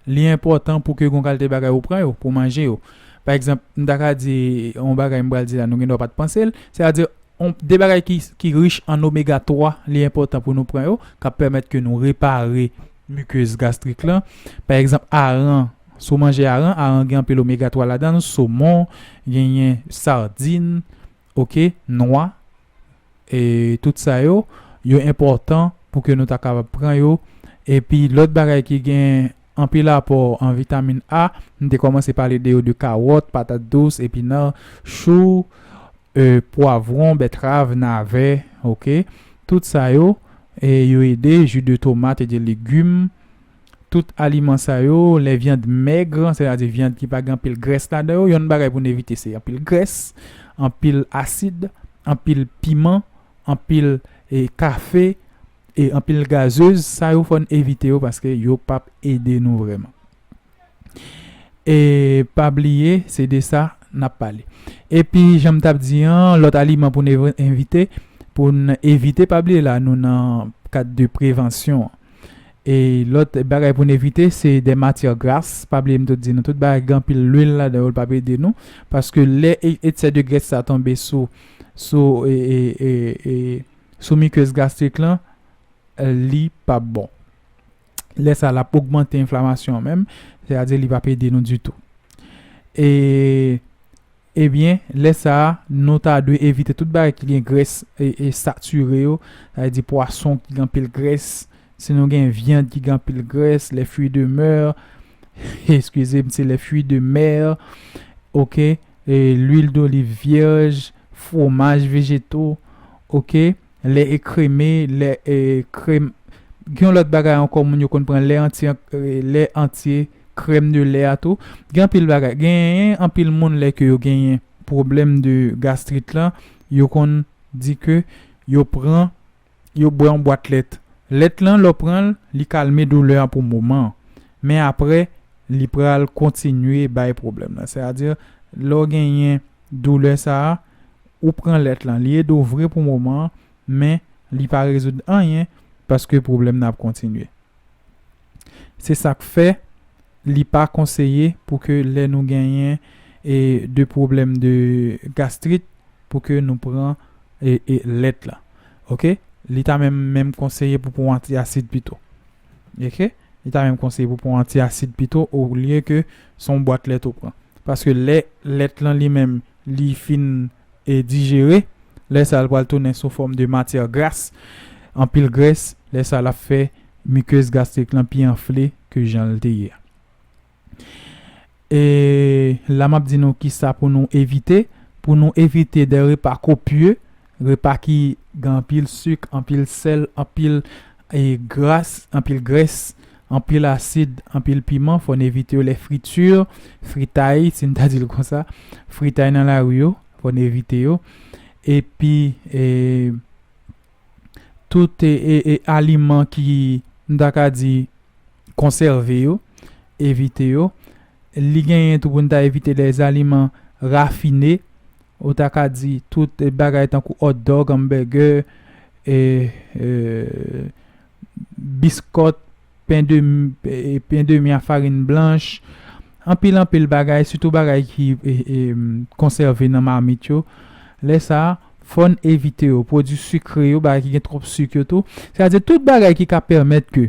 li enpòtan pou ke yon kalte bagay ou pran yo, pou manje yo. Pa egzanp, m ta ka di yon bagay m pral di la nou gen dwa pa t panse l, se ta di yon de bagay ki rich an omega 3 li enpòtan pou nou pran yo k ap pèmèt ke nou repare mikez gastrik lan. Pa egzanp, aran, si w manje aran, aran gen anpil omega 3 ladan l, somon, genyen sardin, ok, nwa. e tout sa yo yo enpòtan pou ke nou ta kapab pran yo epi lòt bagay ki gen anpil apò an vitamin A m te kòmanse pale de yo de kawòt patat dous epinar chou e pwavwon bètrav navè ok tout sa yo e yo ede ju de tomat e de legum. tout aliman sa yo, lè vyand mèg, sètadi vyand ki pa gen anpil grès ladan yo, yonn bagay pou n evite se anpil grès, anpil asid, anpil piman, anpil kafe, e anpil gazez, sa yo fò n evite yo paske yo pap ede nou vrèman. E pa bliye se de sa n ap pale. Epi jan m t ap di an, lòt aliman pou n evite, pou n evite pa bliye la nou nan kad de prevansyon an. E lòt bagay pou n evite se de matyè gras. Pa bliye m te di nou tout bagay ki gen anpil lwil ladan yo l pap ede nou. Paske lè eksè de grès sa tonbe sou sou mikez gastrik lan li pap bon. Lè sa l ap ogmante enflamasyon an menm. Se a di li pap ede nou ditou. E. Ebyen, lè sa a, nou ta dwe evite tout bagay ki gen grès satire yo, sa vle di pwason ki gen anpil grès, si nou gen vyann ki gen anpil grès, les fruits de mer, eskize m se les fruits de mer, ok, l'huile d'olive vierge, fwomaj vejeto, ok. Lè e kreme, lè e krèm Gen yon lòt bagay ankò moun yo konn pran lè antye an lè antye krèm de lè a tou gen anpil bagay genyen anpil moun lè ke yo genyen pwoblèm de gastrit lan yo konn di ke yo pran yo bwè yon bwat lèt lèt lan lè w pran l li kalme doulè a pou moman an men aprè li pral kontinye bay pwoblèm nan se a di lè w genyen doulè sa a Ou pran lèt lan li ede w vre pou moman an men li pa rezoud anyen paske pwoblèm nan ap kontinye. Se sa k fè li pa konseye pou ke lè nou genyen de pwoblèm de gastrit pou ke nou pran lèt lan ok. Li ta menm menm konseye pou pran w anti asid pito ok. Li ta menm konseye pou pran w anti asid pito olye ke se yon bwat lèt ou pran paske lè lèt lan li menm li fin dijere, lè sa l pral tounen sou fòm de matyè gras, anpil grès, lè sa l ap fè mikez gastrik lan pi anfle ke jan l te ye a. E la m ap di nou kisa pou nou evite, pou nou evite dè repa kopye, repa ki gen anpil sik, anpil sèl, anpil. gras, anpil grès, anpil asid, anpil piman, fòn evite yo lè friti, fritay, si n ta di l konsa, fritay nan lari yo, fòn evite yo, epi tout aliman ki, m ta ka di. konsève yo, evite yo. Li genyen tou pou n ta evite lèzaliman rafine, ou ta ka di tout bagay tankou òtdòg, anmbègè, e biskòt, pendemi a farin blanch, anpil anpil bagay, sitou bagay ki konsève nan mamit yo. Lè sa a, fò n evite yo. Pwodui sikre yo, bagay ki gen twòp sik yo tou. Sa vle di tout bagay ki ka pèmèt ke.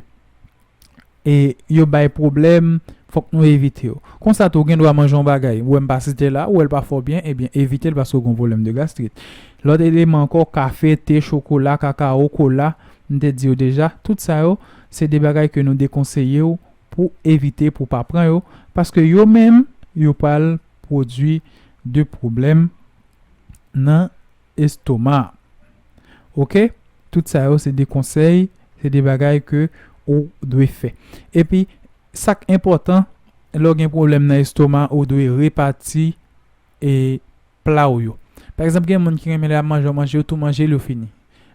e yo bay pwoblèm fòk nou evite yo konsa tou ou gen dwa manje yon bagay ou wèm pa site la ou wèl pa fè w byen ebyen evitel paske ou gen yon pwoblèm de gastrit lòt eleman ankò kafe te chokola kakao kola m te di yo deja tout sa yo se de bagay ke nou dekonseye w pou evite pou w pa pran yo paske yo menm yo pral pwodwi de pwoblèm nan. estoma ok tout sa yo se de konsèy se de bagay ke ou dwe fè epi sak enpòtan lè w gen pwoblèm nan estoma ou dwe repati e pla w yo pa egzanp gen moun ki renmen lè yap manje yo manje yo tou manje l yo fini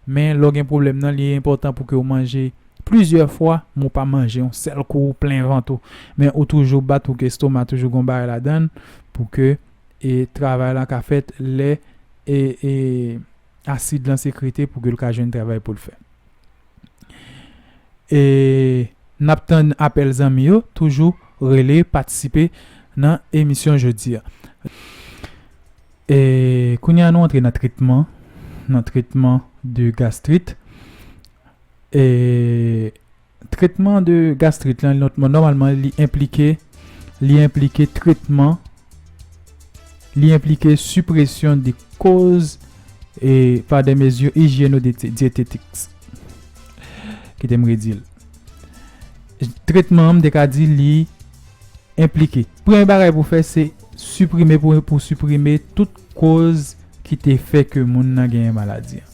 men lè w gen pwoblèm nan li enpòtan pou ke ou manje plizyè fwa men w pa manje yon sèl kou ou plen vant ou men ou toujou bat ou ke estoma toujou gon bagay ladan l pou ke e travay lan ka fèt lè e asid lan sekrete pou ke l ka jwenn travay pou l fè. E n ap tann apèl zanmi yo toujou rele patisipe nan emisyon jodi a. E kounye a nou antre nan tretman nan tretman de gastrit e. Tretman de gastrit lan nòmalman li enplike li enplike tretman li enplike sipresyon de koz e pa de mezi ijyeno de dyetetik. Kite m redi l. Tretman an m te ka di li Enplike. Premye bagay pou fè se siprime pou pou siprime tout koz ki te fè ke moun nan genyen maladi an.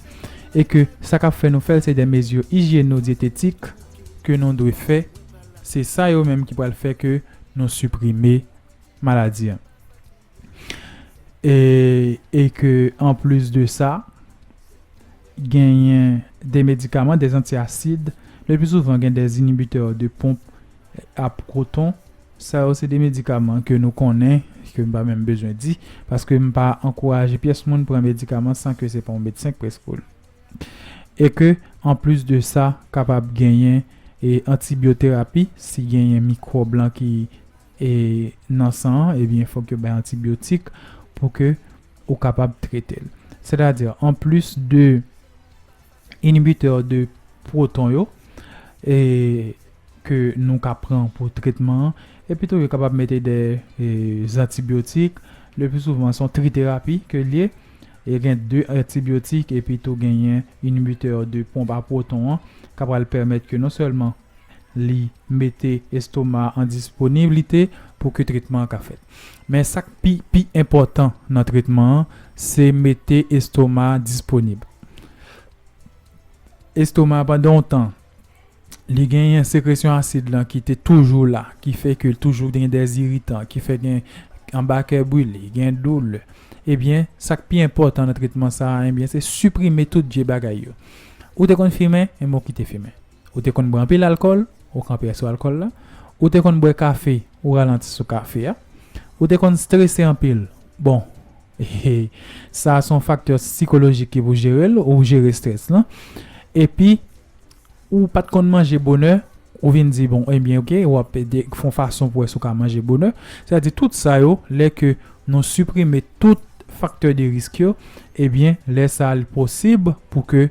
E ke sa kap fè nou fèl se de mezi ijyeno-dyetetik ke nou dwe fè, se sa yo menm ki pral fè ke nou siprime maladi an. E e ke anplis de sa genyen de medikaman, de anti asid, le pi souvan gen de inibitè de ponp a pwoton, sa yo se de medikaman ke nou konnen, ke m pa menm bezwen di, paske m pa ankouraje pyès moun pran medikaman san ke se pa yon medsen k preskri l. E ke anplis de sa kapab genyen e antibyoterapi si genyen mikwòb lan ki. E nan san an ebyen fòk yo bay antibiotik pou ke ou kapab trete l. Sètadi anplis de inibitè de pwoton yo e ke nou ka pran pou tretman an epitou yo kapab mete de zantibiotik le pli souvan son triterapi ke l ye e gen de antibiotik epitou genyen inibitè de ponp a pwoton an ka pral pèmèt ke non sèlman Li mete estoma an disponiblite pou ke tretman an ka fèt. Men sa k pi pi enpòtan nan tretman an se mete estoma disponib. Estoma pandan yon tan li genyen sekresyon asid lan ki te toujou la ki fè ke toujou gen dè ziritan ki fè gen anba kè brile, gen doulè. Ebyen sa k pi enpòtan nan tretman sa a ebyen se siprime tout vye bagay yo. Ou te konn fimen? Ebyen ou kite fimen. Ou te konn bwè anpil alkòl, ou kanpe sou alkòl la. Ou te konn bwè kafe, ou ralanti sou kafe a. Ou te konn strese anpil. Bon, e, sa a se yon faktè sikolojik ki pou jere l, ou jere strès lan. Epi, ou pa t konn manje bonè, ou vin di, bon, ebyen, ok, w ap fè yon fason pou wè si w ka manje bonè. Sètadi, tout sa yo, lè ke nou siprime tout faktè de risk yo, ebyen, lè sa a li posib pou ke.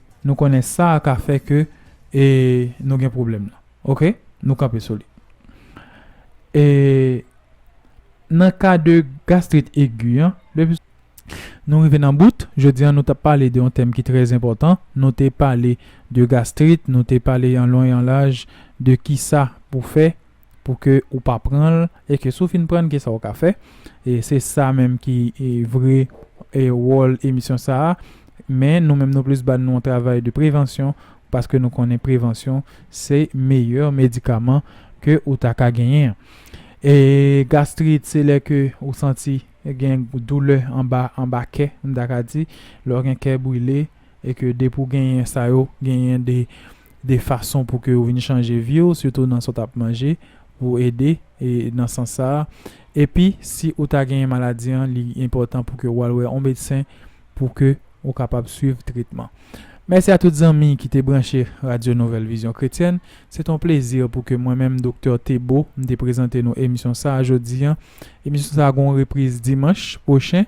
Nou konnen sa a ka fè ke e nou gen pwoblèm lan. Ok, nou kanpe sou li. E nan ka de gastrit egi an, depi. Nou rive nan bout, jodi an nou t ap pale de yon tèm ki trè enpòtan. Nou te pale de gastrit, nou te pale an lon e an laj de kisa pou fè. pou ke ou pa pran l e ke si w fin pran l kisa w ka fè e se sa menm ki vre wòl emisyon sa a men nou menm nou plis ba nou yon travay de prevansyon paske nou konnen prevansyon se meyè medikaman ke ou ta ka genyen an e gastrit se lè ke ou santi gen doulè anba anba kè m ta ka di lè w gen kè brile e ke depi w genyen sa yo genyen de de fason pou ke ou vin chanje vi w sitou nan sa w t ap manje pou ede e nan sans sa a epi si ou ta genyen maladi an li enpòtan pou ke ou al wè on medsen pou ke ou kapab swiv tretman. Mèsi a tout zanmi ki te branche Radyo Nouvèl Vizyon Kretyèn. Se t on plezi pou ke mwen menm Doktè Thébeau m te prezante nou emisyon sa a jodi an. Emisyon sa a gen on repriz dimanch pwochen.